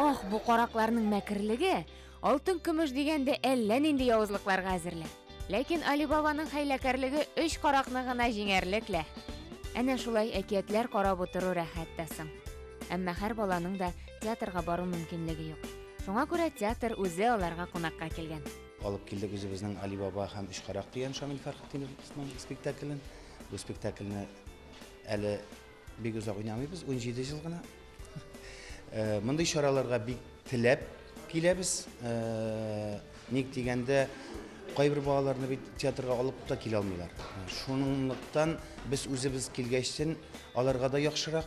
Ах, бу каракларның мәкерлеге! Алтын көмеш дигәндә әллә нинди явызлыкларга әзерлә. Ләкин Алибабаның хәйләкәрлеге өч каракны гына җиңәрлек лә. Әнә шулай әкиятләр карап утыру рәхәт тә соң. Әмма һәр баланың да театрга бару мөмкинлеге юк. Шуңа күрә театр үзе аларга кунакка килгән. Алып килдек үзебезнең Алибаба һәм Өч карак дигән Шамил Фәрхетдиновның спектаклен. Бу спектакльне әле бик озак уйнамыйбыз, 17 ел гына. Э, мондый чараларга бик теләп киләбез. Э, ник дигәндә, кайбер балаларны бит театрга алып та килә алмыйлар. Шунлыктан без үзебез килгәчтен аларга да яхшырак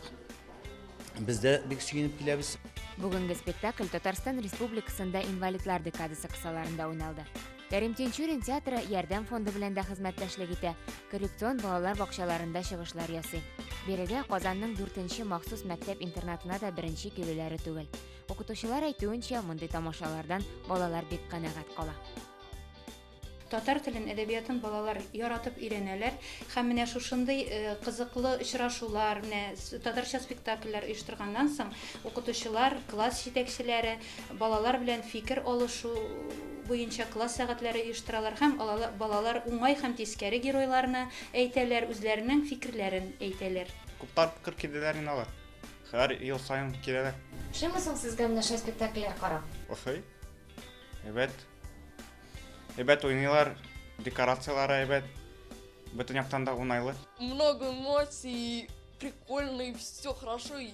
без дә бик сөенеп киләбез. Бүгенге спектакль Татарстан Республикасында инвалидлар декадасы кысаларында уйналды. Кәрим Тинчурин театры Ярдәм фонды белән дә хезмәттәшлек итә, коррекцион балалар бакчаларында чыгышлар ясый. Бирегә Казанның 4-нче махсус мәктәп-интернатына да беренче килүләре түгел. Укытучылар әйтүенчә, мондый тамашалардан балалар бик канәгать кала. Татар телен, әдәбиятын балалар яратып өйрәнәләр. Һәм менә шушындый э, кызыклы очрашулар, менә татарча спектакльләр оештырганнан соң укытучылар, класс җитәкчеләре балалар белән фикер алышу буенча класс сәгатьләре оештыралар һәм балалар уңай һәм тискәре геройларны әйтәләр, үзләренең фикерләрен әйтәләр. Күптар күп килделәр инде алар. Һәр ел саен киләләр. Ошыймы соң сезгә менә шулай спектакльләр карап? Ошый. Әйбәт. Әйбәт уйныйлар, декорацияләре әйбәт. Бөтен яктан да уңайлы. Много эмоций, прикольный, все хорошо и,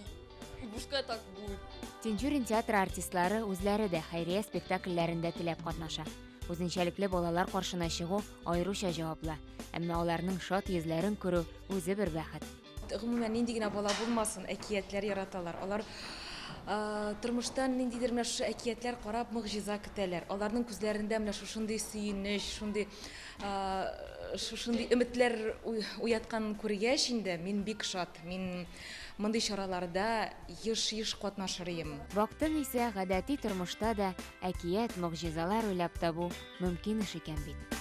и пускай так будет. Тинчурин театры артистлары үзләре дә хәйрия спектакльләрендә теләп катнаша. Үзенчәлекле балалар каршына чыгу аеруча җаваплы, әмма аларның шат йөзләрен күрү үзе бер бәхет. Гомумән, нинди генә бала булмасын, әкиятләр яраталар. Алар тормыштан ниндидер менә шушы әкиятләр карап могҗиза көтәләр. Аларның күзләрендә менә шушындый сөенеч, шундый шушындый өметләр уятканын күргәч инде, мин бик шат. Мин мондый чараларда еш-еш катнашыр идем. Бактың исә, гадәти тормышта да әкият, могҗизалар уйлап табу мөмкин эш икән бит.